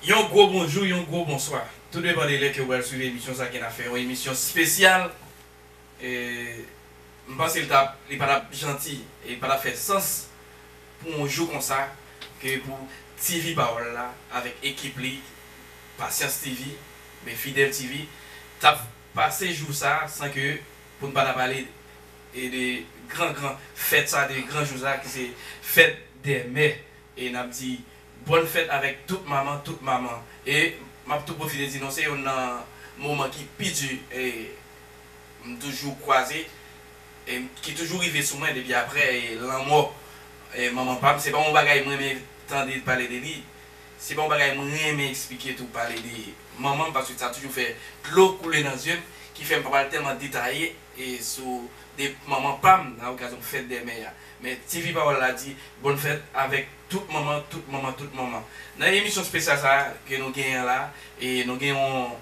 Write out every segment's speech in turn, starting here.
Yon gwo bonjou, yon gwo bonswa. Tou depan de lè ke ou pral swiv emisyon sa ke n ap fè yon emisyon spesyal. M panse li tap, li pa tap janti e li pa tap fè sans pou yon jou konsa ke pou TV Pawòl la avèk ekip li Pasyans TV oubyen Fidèl TV tap pase jou sa san ke pou n pa ta pale de gran gran fèt sa, de gran jou sa ki se fèt dè mè E nap di bòn fèt avèk tout manman tout manman e map tou pwofite di nou se yonn nan moman ki pi di m toujou kwaze e ki toujou rive sou mwen depi aprè lanmò manman pam se pa yon bagay m renmen tande pale de li se pa yon bagay m renmen eksplike tou pale de manmanm paske sa toujou fè dlo koule nan zye m ki fè m pa pral tèlman detaye sou de manman pam nan okazyon fèt dè mè a. Men TV Pawòl la di Bòn Fèt avèk tout manman, tout manman, tout manman. Nan emisyon spesyal sa a ke nou genyen an la a, e nou gen yon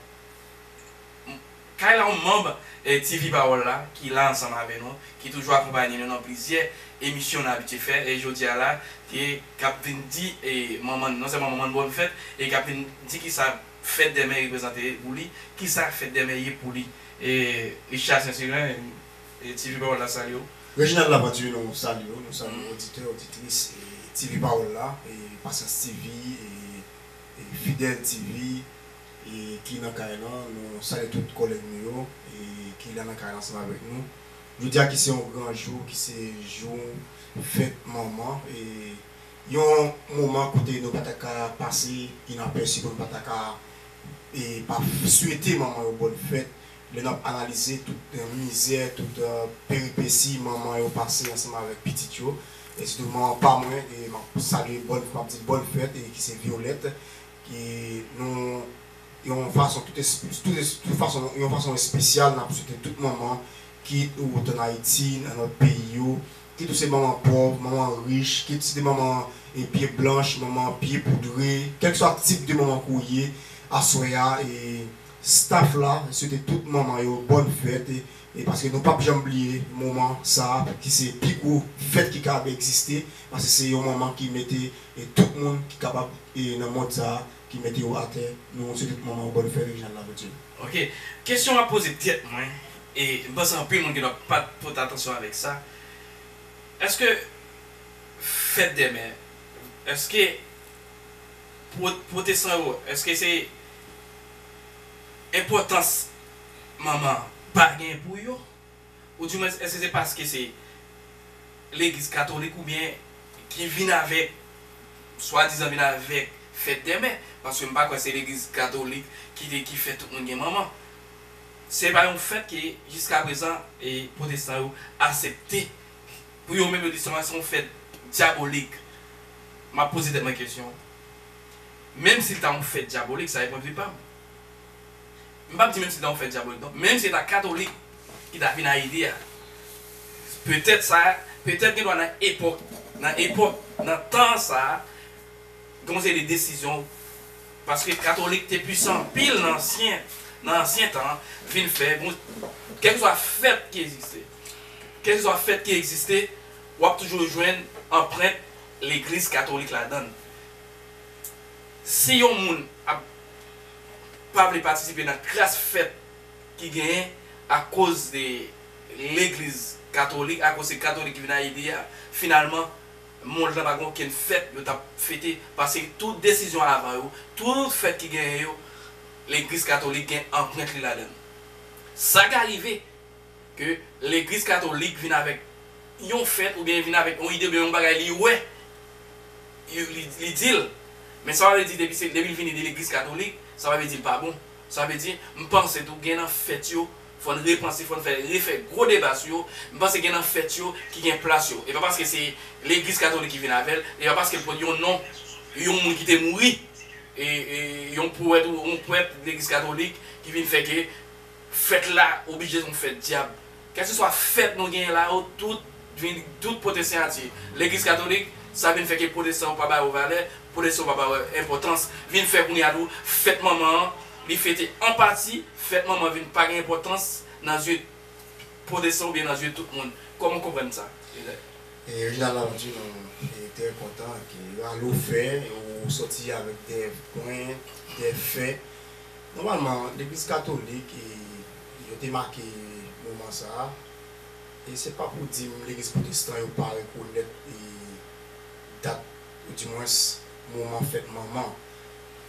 kay la, yon manb TV Pawòl la ki la ansanm avè nou, ki toujou akonpanye nou nan plizyè emisyon nou abitye fè, e jodi a la, ke k ap vin di manman, non sèlman manman n Bòn Fèt, e k ap vin di kisa Fèt dè Mè reprezante pou li, kisa Fèt dè Mè ye pou li. E Richard Saint-Cyran. TV Pawòl la salye w. Reginald Laventure nou salye w, nou salye oditè, oditris TV Pawòl la, Pasyans TV, Fidèl TV ki nan kay lan. Nou salye tout kòlèg nou yo ki la nan kay lan ansanm avèk nou. Jodi a ki se yon gran jou, ki se jou fèt manman, yon moman kote nou pa ta ka pase inapèsi, nou pa ta ka pa swete manman yo bòn fèt, Lè n ap analize tout mizè, tout peripesi manman yo pase ansanm avèk pitit yo, e sitou manman pa mwen ke m ap salye bòn m ap di l bòn fèt e ki se Vyolèt ki nou yon fason tout tout fason yon fason espesyal n ap swete tout manman kit ou t ann Ayiti nan lòt peyi yo kit ou se manman pòv, manman rich, kit se te manman pye blanch, manman pye poudre kèlkeswa tip de manman ke w ye aswè a e Staff la swete tout manman yo bòn fèt e paske nou pap janm bliye moman sa ki se pi gwo fèt ki kapab egziste paske se yon manman ki mete tout moun ki kapab nan mond sa ki mete yo atè nou swete tout manman yo bòn fèt Reginald Laverture. Ok kesyon map poze tèt mwen e m panse anpil moun gendwa pat pote atansyon avèk sa eske fèt dèmen eske Pwotestan yo, èske se enpòtans manman an pa gen pou yo? Oudimwens, èske se paske se legliz katolik oubyen ki vin avèk, swadizan vin avèk fèt dè mè? Paske m pa kwè se legliz katolik ki te ki fè tout moun gen manman. Se pa yon fèt ke jiskaprezan pwotestan yo asepte Pou yo menm yo di se yon fèt dyabolik. M ap poze tèt mwen kesyon, menm si l ta yon fèt dyabolik, sa se pwendvi pa m, m pa p di menm si l ta yon fèt dyabolik non, menm si se ta katolik ki ta vin Ayiti a, petèt sa, petèt gen dwa nan epòk, nan epòk, nan tan sa a, gen yon seri de desizyon, paske katolik te pwisan anpil nan ansyen, nan ansyen tan, vin fè, kèlkeswa fèt ki egziste. Kèlkeswa fèt ki egziste, w ap toujou jwenn anprent legliz katolik ladan l. Si yon moun ap pa vle patisipe nan kras fèt ki genyen akoz de legliz katolik, akoz se katolik ki vin nan Ayiti a, finalman, mond lan pa gen okenn fèt yo t ap fete paske tout desizyon avan yo, tout fèt ki genyen yo, legliz katolik gen anprent li ladan l. Sa ka rive. ke legliz katolik vin avèk yon fèt ou byen vin avèk yon ide oubyen yon bagay li wè li dil men sa pa vle di depi se depi li vini de legliz katolik sa pa vle di li pa bon sa vle di m panse tou gen nan fèt yo fò n repanse fò n fè refè gwo deba sou yo m panse gen nan fèt yo ki gen plas yo e pa paske se legliz katolik ki vin avè l e pa paske l pot yon non yon moun ki te mouri e yon powèt ou yon pwèt legliz katolik ki vin fè ke. Fèt la oblije son fèt dyab. Kèlkeswa fèt nou genyen la yo tout vin tout pote siyati legliz katolik, sa vin fè ke pwotestan yo pa ba yo valè, pwotestan yo pa ba yo enpòtans. Vin fè kounye a tou fèt manman an li fete an pati, fèt manman vin pa gen enpòtans nan zye pwotestan oubyen nan zye tout moun. Kòman w konprann sa, Reginald? Reginald Lafontu, Nou trè kontan ke yo al ofè, yo sòti avèk de pwen, de fè. Nòmalman, legliz katolik yo te make moman sa a, e se pa pou di m legliz pwotestan yo pa rekonèt dat oudimwens moman fèt manman.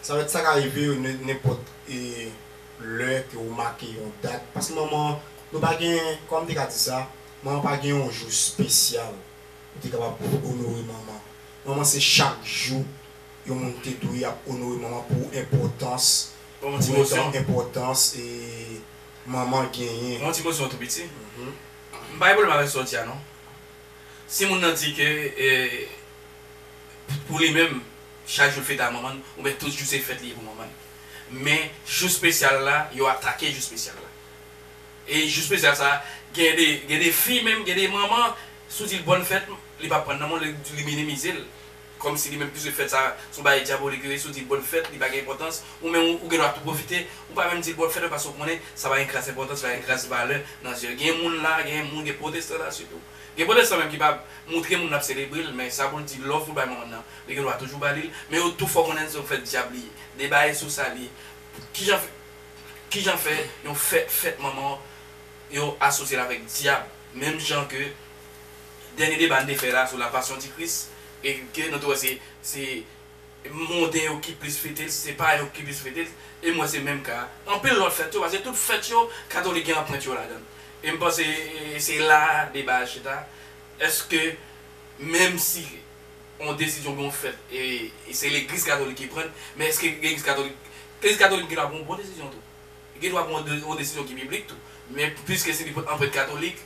Sa vle di sa ka rive yo nenpòt lè ke ou make yon dat, paske manman nou pa gen, kòman m te ka di sa, manman pa gen yon jou spesyal ou te kapab onore manman. Manman se chak jou. yon moun te dwe ap onore manman pou enpòtans pou etan enpòtans manman genyen. Mwen yon ti kozyon tou piti. M pa gen pwoblèm avèk sa w di a non. Si moun nan di ke pou li menm chak jou l fete a manman l oubyen tout jou se fèt li ye pou manman l. Men jou spesyal la yo atake jou spesyal la. E jou spesyal sa gen de gen de fi menm gen de manman si w di l bòn fèt li p ap pran nan men w li minimize l. Kòmsi li menm pise fèt sa son bagay dyabolik li resi ou dil bòn fèt li pa gen enpòtans ou menm ou gen dwa tou pwofite ou pa menm dil bòn fèt paske ou konnen sa pa gen kras enpòtans pa gen kras valè nan zyel gen moun la gen moun gen pwotestan la sitou gen pwotestan menm ki pa moutre moun lap selebrel men sa poul di love poul bay manmann nan li gen dwa toujou balil men yo tou fò konnen son fèt dyab li ye deba e sou sa li ye kijan fè kijan fè yon fèt fèt manman yo asosyel avèk dyab menm jan ke dènye deba n te fè la sou la passion ti kris e ke nou te wè se se monden yo ki plis fete l se payen yo ki plis fete l e m wè se menm ka anpil lòt fèt yo paske tout fèt yo katolik gen anprent yo ladan l e m panse se la a deba a chita èske menm si yon desizyon pou yon fèt e se legliz katolik ki pran l men èske legliz katolik legliz katolik gen dwa pran yon bon desizyon tou li gen dwa pran yon desizyon ki biblik tou men piske se li pran anprent katolik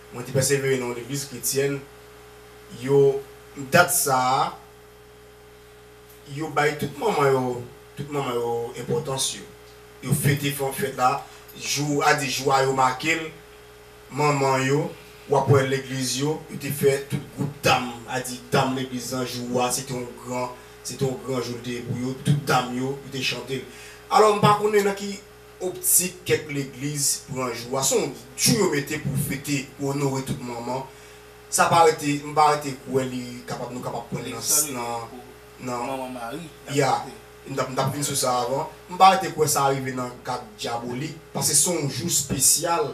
Mwen te pèsevere nan yon legliz kretyèn. Yo, dat sa a, yo bay tout manman yo, tout manman yo enpòtans yo. Yo fete fè yon fèt la, jou a di jou a yo make l, manman yo, w ap wè legliz yo, yo te fè tout gwoup dam, a di dam legliz lan jou a se te yon gran, se te yon gran jou l te ye pou yo, tout dam yo, yo te chante l. Alò m pa konnen nan ki Optik kèk legliz pran jou a son jou yo mete pou fete pou onore tout manman sa pa rete m pa rete kwè li kapab nou kapab pran nan nan ya m tap m tap vin sou sa avan m pa rete kwè sa rive nan kad dyabolik pase son jou spesyal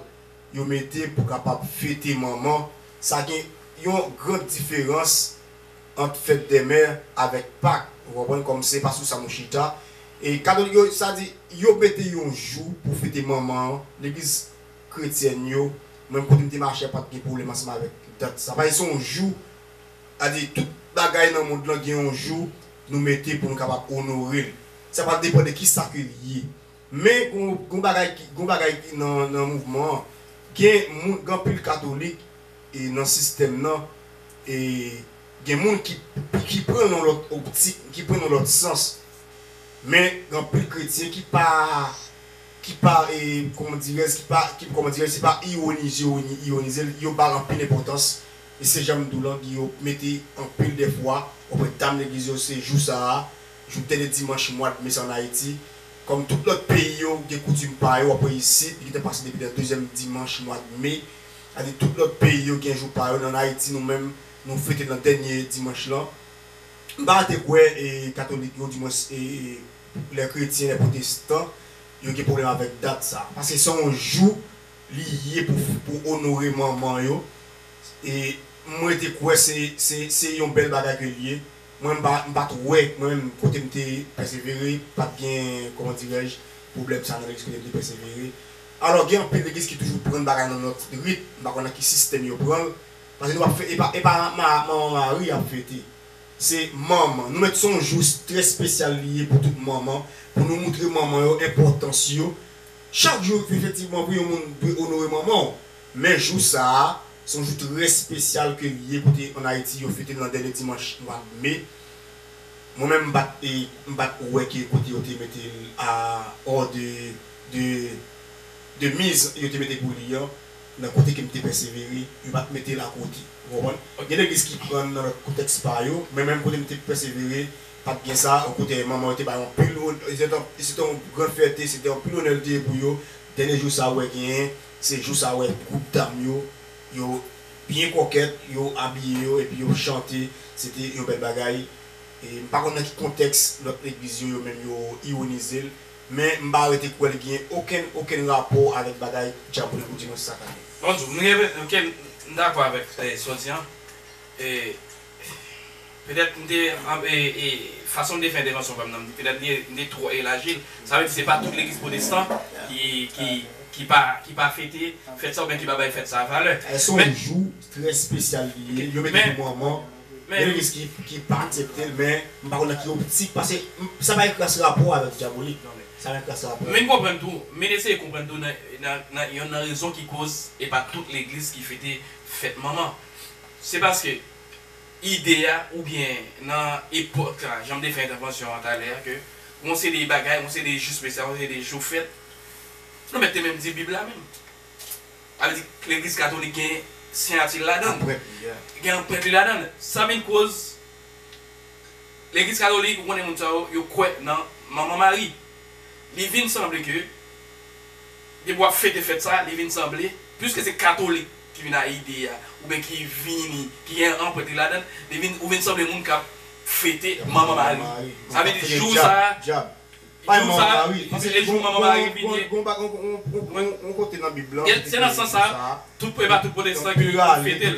yo mete pou kapab fete manman sa gen yon grand diferans. ant fèt dè mè avèk pak ou konprann kòm se pa sou sa nou chita e katolik yo sa di yo mete yon jou pou fete manman an legliz kretyèn yo mwen kote m te mache a pat gen pwoblèm ansanm avèk dat sa paske se yon jou a di tout bagay nan mond lan gen yon jou nou mete pou nou kapab onore l sa pral depan de kisa ke l ye. Men gon bagay ki gon bagay ki nan nan mouvman an gen moun gen anpil katolik e nan sistèm nan e gen moun ki ki pran l yon lòt optik ki pran l yon lòt sans men gen anpil kretyen ki pa ki pa e kòman dirèz ki pa ki kòman dirèz se pa iwonize yo iwonize l yo ba l anpil enpòtans e se jan m di w lan gen yo mete anpil dèfwa ou pè dam legliz yo se jou sa a Jou dènye dimanch mwa d me sa an Ayiti, kòm tout lòt peyi yo, gen koutim pa yo, apre isit, li gentan pase depi nan dezyèm dimanch mwa d me. Sa di tout lòt peyi yo gen jou pa yo, nan Ayiti nou menm, nou fete l nan dènye dimanch lan. M pa rete kwè e katolik yo, dimwens e lè kretyen, lè pwotestan, yo gen pwoblèm avèk dat sa. Paske se yon jou li ye pou pou onore manman yo e m rete kwè se se se yon bèl bagay ke l ye. Mwen m pa m pat wè mwen menm kote m te pèsevere pat gen kòman dirèj pwoblèm sa nan legliz kote m te pèsevere alò gen anpil legliz ki toujou prann bagay nan lòt rit m pa konn nan ki sistèm yo pran l pase nou pap fè epa epa ma manman Mari y ap fete se manman nou mèt se yon jou trè spesyal li ye pou tout manman pou nou moutre manman yo enpòtans yo chak jou efektivman wi yon moun dwe onore manman w. Men jou sa a, se yon jou trè spesyal ke li ye kote an Ayiti yo fete l nan dènye dimanch mwa me. Mwen menm m pat e m pat wè ke kote yo te mete l a or de de de miz yo te mete pou li an nan kote ke m te pèsevere yo pat mete l a kote. Ou konprann? Gen legliz ki pran l nan lòt koutèks pa yo, men menm kote m te pèsevere pat gen sa o kote manman yo te bay anpil o se te yon gran fète se te anpil onè l te ye pou yo dènye jou sa a ou wè genyen Se jou sa wè gwoup dam yo, yo byen kòkèt, yo abiye yo epi yo chante, se te yon bèl bagay. E m pa konn nan ki kontèks lòt legliz yo, yo menm yo iwonize l, men m pa rete kwè li gen okenn, okenn rapò avèk bagay Djabole pou Dimanch sak ane. Bonjou, m gen, ok, m dakò avèk sa w di an. E Petèt m te fason m te fè entèvansyon pa m nan, petèt m te twò elaji l. Sa vle di se pa tout legliz pwotestan ki ki pa fete fèt sa oubyen ki pa bay fèt sa valè. Èske se yon jou trè spesyal li ye, yo mete pou manman, gen legliz ki pa aksepte l men m pa konn nan ki optik pase sa pa gen kras rapò avèk dyabolik nan men, sa gen kras rapò. Vin konprann tou, vin eseye konprann tou nan yonn nan rezon ki koz e pa tout legliz ki fete fèt manman. Se paske ide a oubyen nan epòk la, jan m te fè entèvansyon an talè a, ke gon se de bagay, gon se de jou spesyal, gon se de jou fèt. Nou mèt te menm di Bib la menm. Sa vle di legliz katolik gen siyati l ladan l. Anprent li a. Gen anprent li ladan l. Sa vin koz legliz katolik, ou konnen moun sa yo, yo kwè nan Manman Mari. Li vin sanble ke depi w ap fete fèt sa, li vin sanble, piske se katolik. ki vin a ide a oubyen ki vini ki gen anprent ladan l, li vin ou vin sanble moun k ap fete manman mari. Sa vle di jou sa a, jou sa a, paske se jou manman mari vin ye. Se nan sans sa a, tout e pa tout pwotestan ki fete l.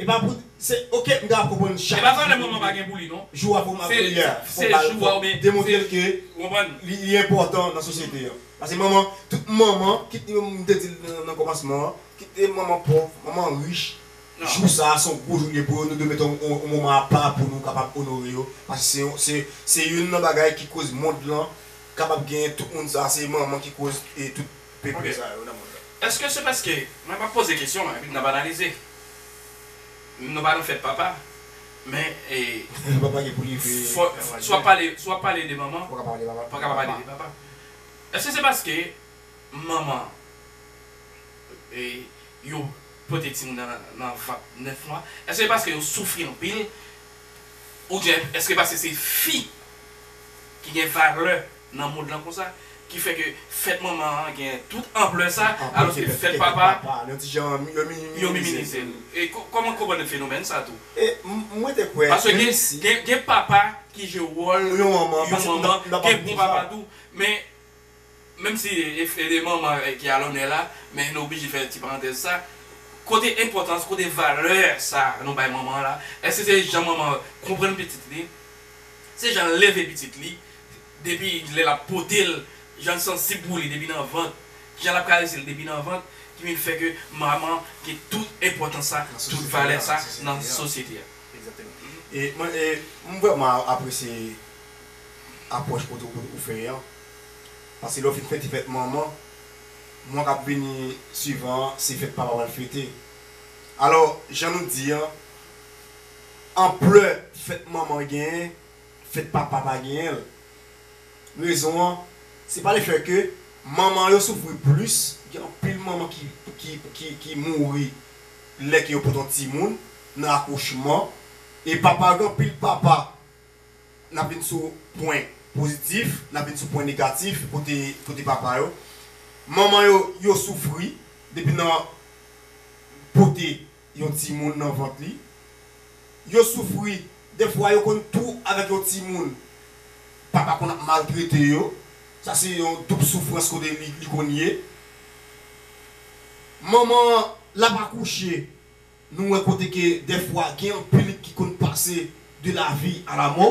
Epa pou se ok m ta ap konprann chak jou pou li ye jou a pou manman l ye a fok bal fok demontre l ke li li enpòtan nan sosyete an pase manman tout manman kit li menm m te di l nan kòmansman an kit li manman pòv manman rich jou sa a se yon gwo jou l ye pou yo nou dwe mete yon moman apa pou nou kapab onore yo pase se yon se se youn nan bagay ki koz mond lan kapab gen tout moun sa a se manman ki koz e tout. Pi prè. Eske se paske mwen pa poze kesyon epi n ap analize? Nou pa nan fèt papa, men si w ap pale de manman, ou pa ka pa pale de papa. Eske se paske manman yo pote timoun nan nan vant 9 mwa? Eske se paske yo soufri anpil? Oubyen eske paske se fi ki gen valè nan mond lan konsa ki fè ke fèt manman an gen tout anplè sa alòske fèt papa yo minimize l e kòman konprann fenomèn sa tou paske gen papa ki jwe wòl yon manman gen bon papa tou men menm si e manman ki alònè la men nou oblije fè ti parantèz sa kote enpòtans kote valè sa nou bay manman la èske se jan manman konprann pitit li se jan l leve pitit li. depi lè l ap pote l, jan l sansib pou li depi nan vant, ki jan l ap karese l depi nan vant ki vin fè ke manman gen tout enpòtans sa, tout valè sa nan sosyete a. Egzakteman. E m vrèman apresye apwòch kote ou fè an, paske lè w fin fete fèt manman, mwa k ap vini swivan an se fèt papa pral fete. Alò, jan nou di an, anplè fèt manman genyen Fèt papa pa genyen l. Rezon an, se pa le fè ke manman yo soufri plis, gen anpil manman ki mouri lè ke yo pot yon timoun nan akouchman, e papa yo gen anpil papa, n ap vin sou pwen pozitif, n ap vin sou pwen negatif kote papa yo. Manman yo, yo soufri depi nan pote yon timoun nan vant li. Yo soufri, defwa yo konn tou avèk yon timoun papa konn ap maltrete yo, sa se yon doub soufrans kote li konn ye. Manman an l ap akouche, nou wè kote ke defwa gen anpil ki konn pase de lavi a lamò.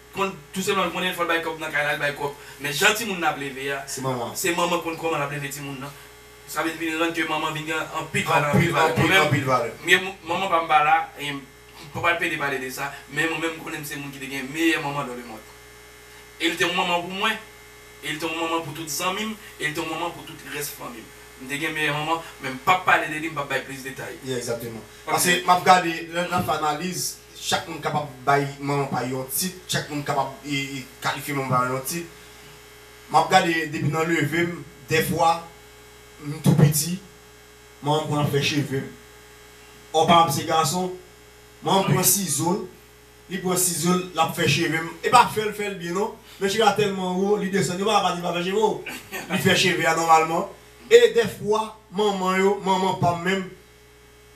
Konn tou se lwa l konnen fò l bay kòb nan kay la l bay kòb men jan timoun nan ap leve a se manman konn kòman l ap leve timoun nan sa vin vin rann ke manman vin gen anpil valè anpil valè mwen menm mye manman pa m pa la e m pa pral pede pale de sa men mwen menm m konnen m se moun ki te gen meyè manman dan le mond e l te yon manman pou mwen e l te yon manman pou tout zanmi m e l te yon manman pou tout rès fanmi m m te gen meyè manman men m p ap pale de li m p ap bay plis detay paske m ap gade lè n ap fè analiz Chak moun kapab bay manman pay yon tit, chak moun kapab kalifye manman pay yon tit. M ap gade depi nan leve m, dèfwa m tou piti, manman m konn ap fè cheve m. Ò pa m ap se gason, manman m pran sizo l, li pran sizo l, l ap fè cheve m. E pa fè l fè l byen non, men cheve a tèlman wo, li desann. Yo pa ka pa di l pa fè cheve w. Li fè cheve a nòmalman. E dèfwa manman yo, manman pa m menm,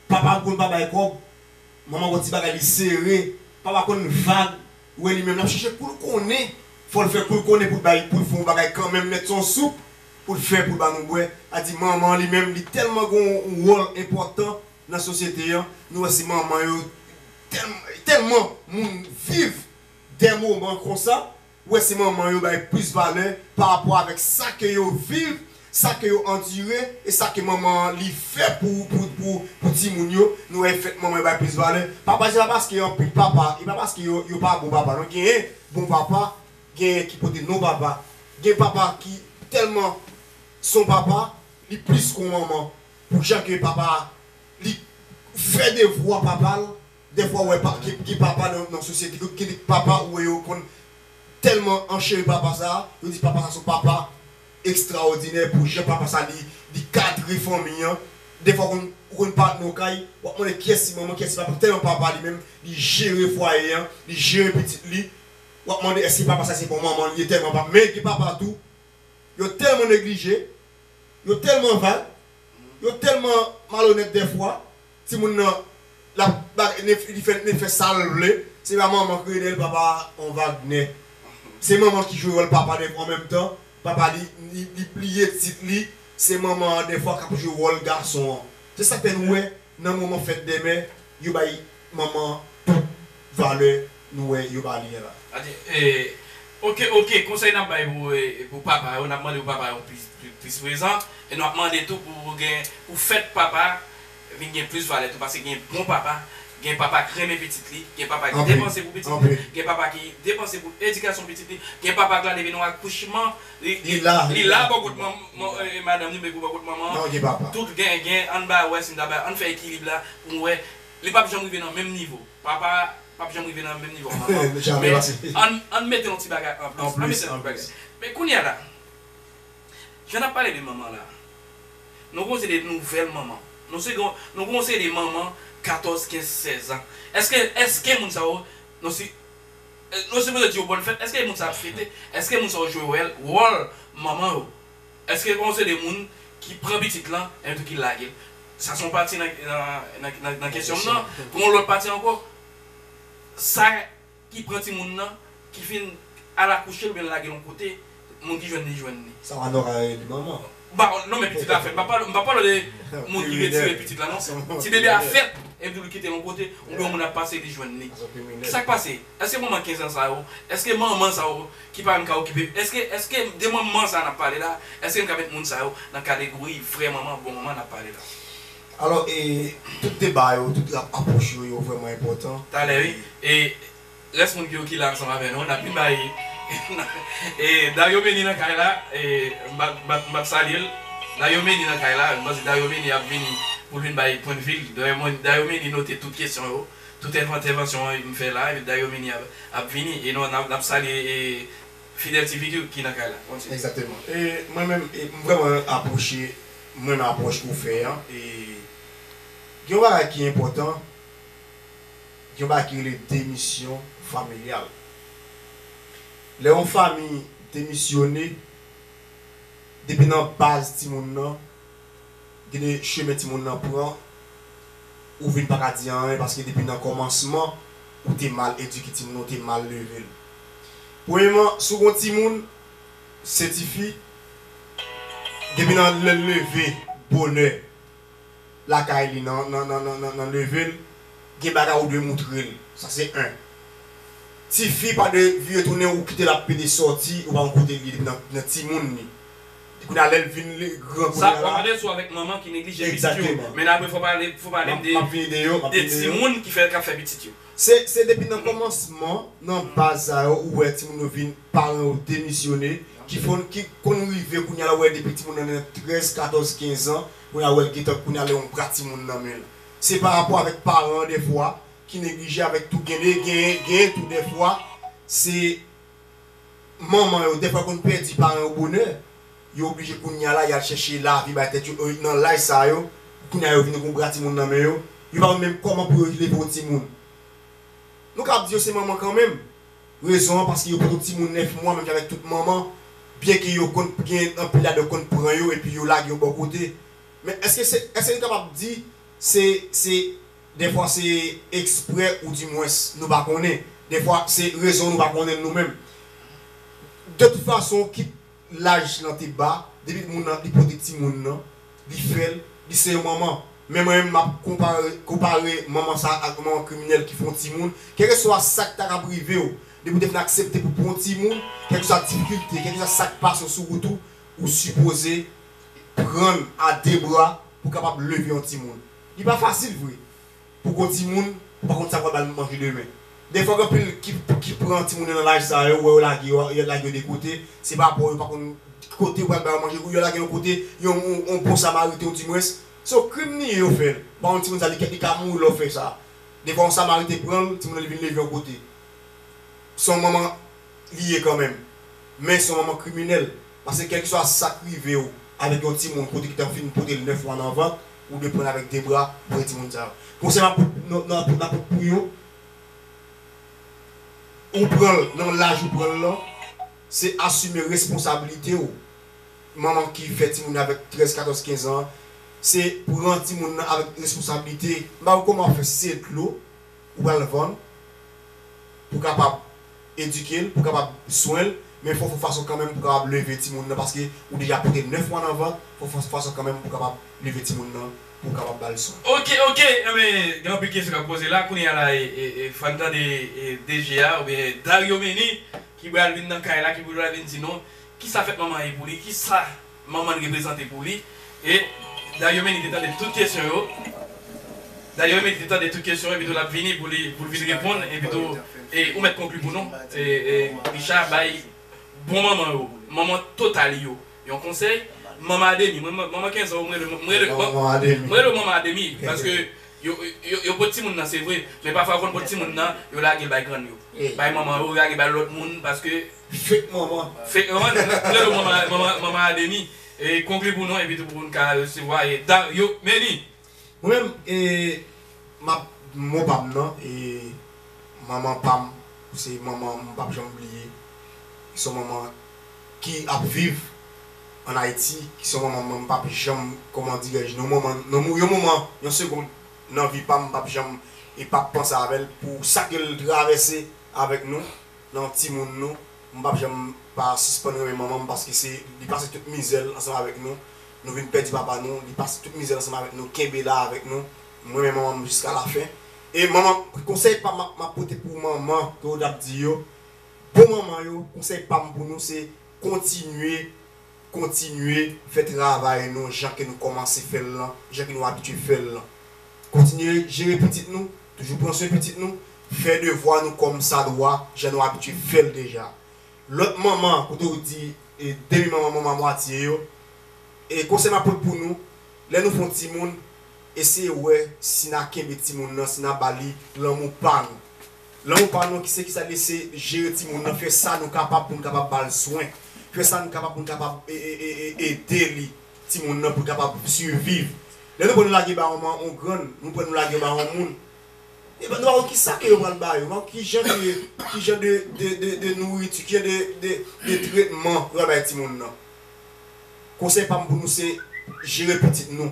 papa konn pa bay kòb, manman wè ti bagay li sere, papa konn vag, wè li menm lap chèche koul konnen, fòl fè koul konnen poul bay poul fè yon bagay kanmenm nèt son soup poul fè poul ba nou bwè, sa di manman li menm li tèlman gen yon wòl enpòtan nan sosyete an, nou wè se manman yo tèlman moun viv dè moman konsa. Ou wè se manman yo bay plis valè pa rapò avèk sa ke yo viv, sa ke yo andire e sa ke manman an li fè pou pou pou pou timoun yo, nou wè e fèt manman yo bay plis valè. Papa se pa paske anpil papa e pa paske yo yo pa bon papa non genyen bon papa genyen ki pote non papa gen papa ki tèlman son papa li plis kou manman pou jan ke papa li fè devwa papa l. Dèfwa ou wè pa ki papa nan sosyete ki gen de papa ou wè yo konn tèlman ancheri papa sa a, yo di papa sa a se yon papa ekstraòdinè pou jan papa sa a li kadre fanmi an. Dèfwa ou konn pa nan yon kay, w ap mande kiyès ki manman, kiyès ki papa tèlman papa li menm li jere fwaye an, li jere pitit li. W ap mande èske papa sa a se bon manman li ye tèlman papa. Men gen papa tou, yo tèlman neglije, yo tèlman vag, yo tèlman malonèt dèfwa, Timoun nan lap bagay li fè sal vle. Se pa manman ki rele l papa an Wagnè se manman ki jwe wòl papa dèfwa an menm tan papa li li pliye tit li se manman an dèfwa kap jwe wòl gason an se sak fè nou wè nan moman fèt dèmen yo bay manman tout valè nou wè yo pa liyen la. Ok ok konsèy nap bay pou papa yo nap mande pou papa yo plis prezan e nou ap mande tou pou gen pou fèt papa vin gen plis valè tou paske gen bon papa gen papa k renmen pitit li gen papa ki depanse pou pitit li gen papa ki depanse pou edikasyon pitit li gen papa k la depi nan akouchman li la bò kot madanm li pou bò kot manman an tout gen ann ba wè si nou ta bay ann fè ekilib la pou nou wè li pap janm rive nan menm nivo. Papa pap janm rive nan menm nivo a manman men ann mete yon ti bagay anplis ann mete yon ti bagay men kounya la jan nap pale de manman la nou gen yon seri de nouvèl manman nou se gen nou gen yon seri de manman 14 15 16 ans eske eske moun sa yo nou si nou sipoze di yo bòn fèt eske moun sa ap fete eske moun sa yo jwe wèl wòl manman yo. Eske pa w se de moun ki pran pitit lan epi ki lage l? Sa se yon pati nan kesyon m nan. Gen yon lòt pati ankò, sa ki pran timoun nan, ki fin al akouche l oubyen lage l yon kote, moun ki jwenn li jwenn li. Sa Manno ka rele li manman. Non men pitit la fèt. M pa pale de moun ki retire pitit la non. Ti bebe a fèt epi tou li kite l yon kote oubyen yon moun ap pase li jwenn li. Ki sa k pase? Eske manman 15 ans sa yo, eske manman sa yo ki pa menm ka okipe, eske eske de manman sa nap pale la, eske nou ka met moun sa yo nan kadegori vrè manman, bon manman nap pale la? Alò e tout deba yo, tout lap apwoch yo, yo vrèman enpòtan. Talè wi e rès moun yo ki la ansanm avè nou nap vin bay e Dario Meni nan kay la e m pap salyel Dario Meni nan kay la m panse Dario Meni ap vini poul vin bay pwendvi l Dario Meni note tout kesyon yo. Tout entèvansyon m fè la epi Dario Mini ap vini e nou nap salye Fidel TV tou ki nan kay la. Kontinye. Exactement e mwen menm m vreman aproche m renmen aproch ou fè an e gen yon bagay ki enpotan gen yon bagay ki rele demisyon familyal lè yon fami demisyone depi nan baz timoun nan Gen de chemen timoun nan pran ou vin paka di anyen paske depi nan kòmansman ou te mal edike timoun nan, ou te mal leve l. Premyeman, si w gen yon timoun, se tifi, depi nan lè l leve bonè lakay li nan leve l, gen bagay ou dwe moutre l. Sa se 1. Tifi pa dwe vire tounen ou kite l ap pede soti ou pa konn kote li ye depi nan timoun li. Di kounya lèl vin li gran kounya la. Sa wap pale sou avèk manman ki neglije pitit yo. Exactement. Men apre fò pale fò pale m de Map vini de yo, map vini de yo. de timoun ki fè kap fè pitit yo. Se se depi nan kòmansman, nan baz sa yo ou wè timoun yo vin paran yo demisyone ki fon ki konn rive kounya la ou wè depi timoun nan nan 13, 14, 15 ans kounya la ou wèl gentan kounya la yon bra timoun nan menl. Se pa rapò avèk paran an dèfwa ki neglije avèk tou gen de gen gen tou dèfwa se manman yo dèfwa konn pèdi paran yo bonè, yo oblije kounya la yal chèche lavi bay tèt yo nan laj sa yo pou kounya yo vini gon bra timoun nan men yo, yo pa konn menm kòman pou yo leve yon timoun. Nou kab di yo se manman kanmenm, rezon an paske yo pot yon timoun 9 mwa menm jan avèk tout manman, byen ke yo konn gen anpil ladan yo konn pran yo epi yo lage yo bò kote. Men èske se èske nou kapab di se se. Dèfwa se eksprè ou di mwens nou pa konnen. Dèfwa se rezon nou pa konnen l nou menm. De tout fason kit laj lan te ba, depi moun lan li pote timoun lan, li fè l, li se yon manman. Men mwen menm m ap konpare manman sa ak yon manman kriminèl ki fè yon timoun. Kèlkeswa sa k ta kab rive w, depi w te fin aksepte pou w pran yon timoun, kèlkeswa difikilte, kèlkeswa sa k pase w sou wout ou, ou sipoze pran l a de bra pou w kapab leve yon timoun. Li pa fasil vre pou gwo timoun ou pa konn sa pral ba l manje demen. Dèyè fòk anpil ki pran timoun yo nan laj sa yo ou wè yo lage yo yo lage yo de kote se pa pa w yo pa konn ki kote ou pral ba yo manje ou yo lage yo yon kote yon yon bon samariten ou di mwens se yon krim li ye yo fè l ou pa konn timoun sa li ka mouri lè w fè sa defwa yon samariten pran l timoun nan li vin leve yon kote se yon manman li ye kanmenm men se yon manman kriminèl paske kèlkeswa sa k rive w avèk yon timoun kote ki ta fin pote l 9 mwa nan vant Ou dwe pran l avèk de bra pou fè timoun sa yo. Konsèy map pot pou yo, ou pran l nan laj ou pran l lan, se asime responsabilite w. Manman ki fè timoun nan avèk 13, 14, 15 an, se pran timoun nan avèk responsabilite. M pa wè kòman w fè si se dlo. Ou pral vann pou kapab edike l, pou kapab swen l, men fò w fè fason kanmenm pou kapab leve timoun nan paske ou deja pote 9 mwa nan vant, fò w fè fason kanmenm pou kapab leve timoun nan pou w kapab ba l swen. Ok ok anben gen anpil kesyon kap poze la kounye a la fan tande DG a oubyen Dario Meni ki bral vin nan kay la ki pou bral vin di nou kisa fèt manman ye pou li kisa Manman l reprezante pou li. E Dario Meni te tande tout kesyon yo. Dario Meni te tande tout kesyon epitou l ap vini pou li pou l vin reponn epitou e ou mèt konkli pou nou e e Richa bay bon manman yo manman Totalie yo yon konsèy Manman Ademi mwen manman Kenzò ou m rele m rele bon m rele w manman Ademi paske yo yo yo pot timoun nan se vre men pafwa yo konn pot timoun nan yo lage l bay grann yo bay manman yo lage bay lòt moun paske Fake manman. Fake manman nou rele w manman manman manman Adeni e konkli pou nou epi tou pou n ka resevwa e Dario Meni. Mwen menm e map mo pa m nan e manman pa m se manman m pap janm bliye se yon manman ki ap viv an Ayiti se yon manman mwen m pap janm kòman dirè je non manman non yon moman yon segond nan vi pa m m pap janm e pap panse avè l pou sa ke l travèse avèk nou. Nan timoun nou, m pap janm pa sispann renmen manman m paske se li pase tout mizè l ansanm avèk nou, nou vin pèdi papa nou, li pase tout mizè l ansanm avèk nou kenbe la avèk nou, m renmen manman m jiska lafen e manman konsèy pa m map pote pou manman ke ou tap di yo bon manman yo konsèy pa m pou nou se kontinye. Kontinye fè travay nou jan ke nou kòmanse fè l lan, jan ke nou abitye fè l lan. Kontinye jere pitit nou, toujou pran swen pitit nou, fè devwa nou kòm sa dwa, jan nou abitye fè l deja. Lòt manman, kote ou di demi manman, manman mwatye yo, e konsèy m ap pot pou nou, lè nou fè yon timoun, eseye wè si na kenbe timoun nan, si na ba li lanmou pa nou. Lan mo pa nou ki se ki sa li ye se jere ti moun nan fè sa nou kapab pou nou kapab ba l swen fè sa nou kapab pou nou kapab ede li ti moun nan pou l kapab siviv lè nou pran nou lage ba yon man yon grann nou pran nou lage yo ba yon moun e nou pa konn ki sa ke yo pral ba yo nou pa konn ki jan de ki jan de de de nouriti ki jan de de de tretman yo pral bay ti moun nan konsèy pa m pou nou se jere pitit nou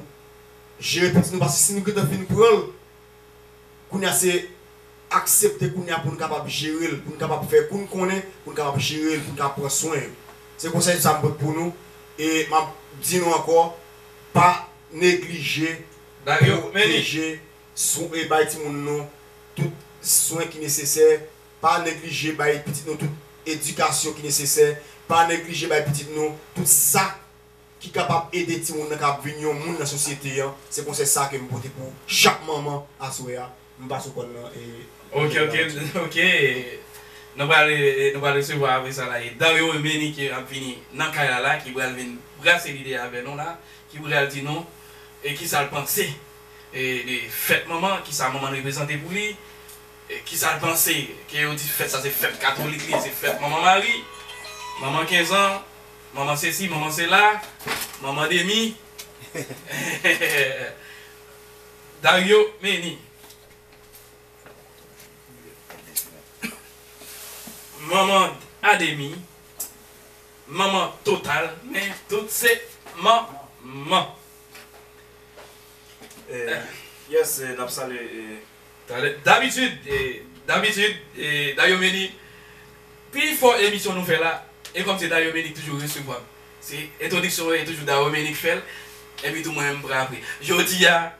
jere pitit nou paske si nou gentan fin pran l Kounya se aksepte kounya poun kapab jerel poun kapab fè koun konnen poun kapab jerel poun ka pran swen yo se konsèy sa m pot pou nou e map di nou ankò pa neglije pwoteje sou e bay timoun nou tout swen ki nesesè pa neglije bay pitit nou tout edikasyon ki nesesè pa neglije bay pitit nou tout sa ki kapab ede timoun nan kapab vin yon moun nan sosyete an se konsèy sa kem pote pou chak manman aswè a m pase w kòn nan e. Ok ok ok nou pral nou pral resevwa apre sa la e Dario e Menike ap vini nan kay la la ki pral vin brase lide avè nou la ki pral di nou e kisa l panse e de fèt manman kisa manman reprezante pou li e kisa l panse ke yo di fèt sa se fèt katolik li ye se fèt manman mari manman 15 ans. Manman sesi, manman sela, manman demi. Dario Meni. Manman a demi, manman total, men tout se manman. Yes, nap salye. Talè Dabitid Dabitid Dayomeni Pi fò emisyon nou fè la e kòm se Dayomeni ki toujou resevwa m se entwodiksyon e toujou Dayomeni ki fè l epi tou mwen menm m pran apre Jodi a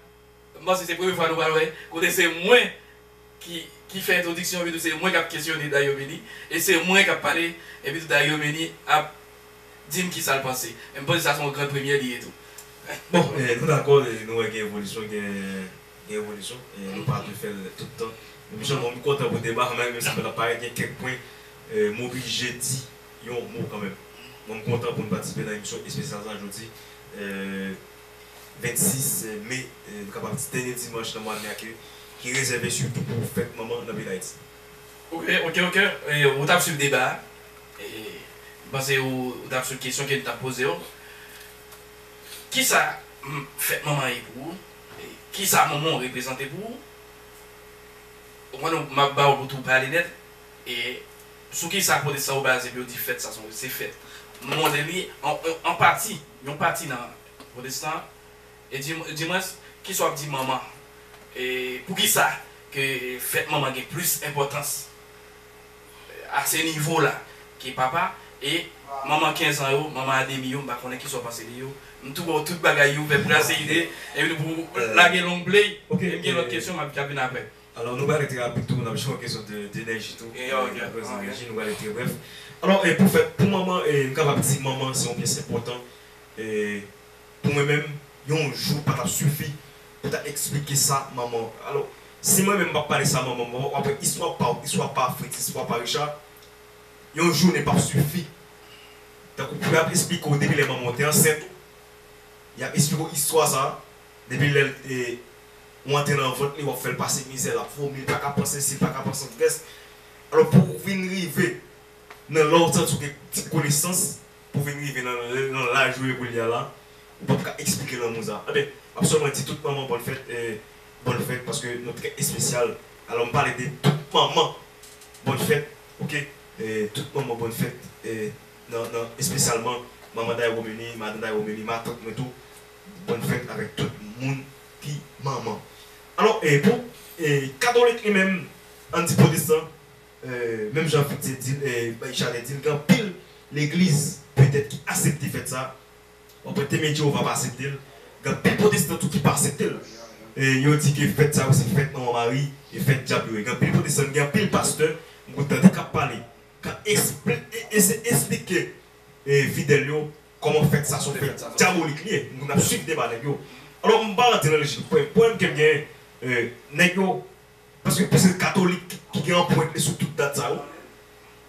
m panse se premye fwa nou pral wè kote se mwen ki ki fè entwodiksyon epi tou se mwen k ap kesyone Dayomeni e se mwen k ap pale epi tou Dayomeni ap di m kisa l panse e m panse sa se yon gran premyè li ye tou Bon nou dakò nou wè gen evolisyon gen. gen evolisyon e nou pa dwe fè l tout tan. Epi sèlman m kontan pou deba an malgre sa pèt ap parèt gen kèk pwen m oblije di yon mo kanmenm. Mwen m kontan pou n patisipe nan emisyon espesyal sa jodi 26 me nou kapab di dènye dimanch nan mwa me a ki rezève sitou pou fèt manman nan peyi Dayiti. Ok ok ok ou tap swiv deba a m panse ou tap swiv kesyon ke n tap poze w. Kisa fèt manman ye pou ou? Kisa Monmon reprezante pou ou? Ou konn m ap ba ou pou tou pale nèt. E sou kisa pwotestan yo baze pou yo di fèt sa s on se fèt? Monmon di li an pati, yon pati nan pwotestan e dimwens kisa w ap di manman? E poukisa ke fèt manman gen plis enpòtans? a se nivo la ke papa e manman 15 ans yo, manman a demi yo m pa konnen kisa w panse de yo, m tou wè w tout bagay yo vèp kraze ide epi nou pou lage long play e m gen lòt kesyon m ap vin aprè. Alò nou prale trè rapid tou, n ap jwenn yon kesyon de Denèji tou, akoz Denèji nou prale trè brèf. Alò pou fèt pou manman e m kapab di manman se yon pyès enpòtan e Pou mwen menm, yon jou pa t ap sifi pou ta eksplike sa manman w. Alò, si mwen menm m ap pale sa manman m, w ap wè istwa pa w, istwa pa Fritz, istwa pa Richard, yon jounen p ap sifi. Tankou pou y ap eksplike w depi lè manman w te ansent ou, y ap eksplike w istwa sa a, depi lè ou antre nan vant li, w ap fè l pase mizè, l ap vomi, l pa ka panse si, l pa ka panse antrès. Alò, pou w vin rive nan lè w santi w gen ti konesans, Pou vin rive nan nan laj ou ye koulye a la, ou pap ka eksplike lanmou sa. Enben, m ap sèlman di tout manman bòn fèt e bòn fèt paske nou trè espesyal. Alò m pale de tout manman bòn fèt ok e tout manman bòn fèt e nan nan espesyalman manman Dayromeni, madan Dayromeni, matant mwen tou bòn fèt avèk tout moun ki manman. Alò e pou e katolik li menm, an n di pwotestan, Menm jan Fritze di l, bay chalè di l, gen anpil legliz petèt ki asepte fèt sa a. Bon, pwèt Temwen Jewova pa asepte l. Gen anpil pwotestan tou ki pa asepte l. Yo di ke fèt sa yo se fèt Manman Mari, e fèt dyab yo ye. Gen anpil pwotestan, gen anpil pastè m konn tande k ap pale, k ap eseye esplike fidèl yo kòman fèt sa a se yon fèt dyabolik li ye. M konn ap suiv deba nèg yo. Alò, m pa rantre nan lojik yo. Pwoblèm ke m genyen, nèg yo. Paske plis se katolik ki gen anprent li sou tout dat sa yo.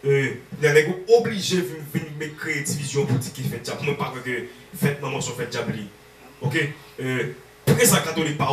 Kounye a nèg yo oblije vin met kreye divizyon pou di ki fèt dyab. Mwen pa kwè ke fèt manman se yon fèt dyab li. Ok. Poukisa katolik pa.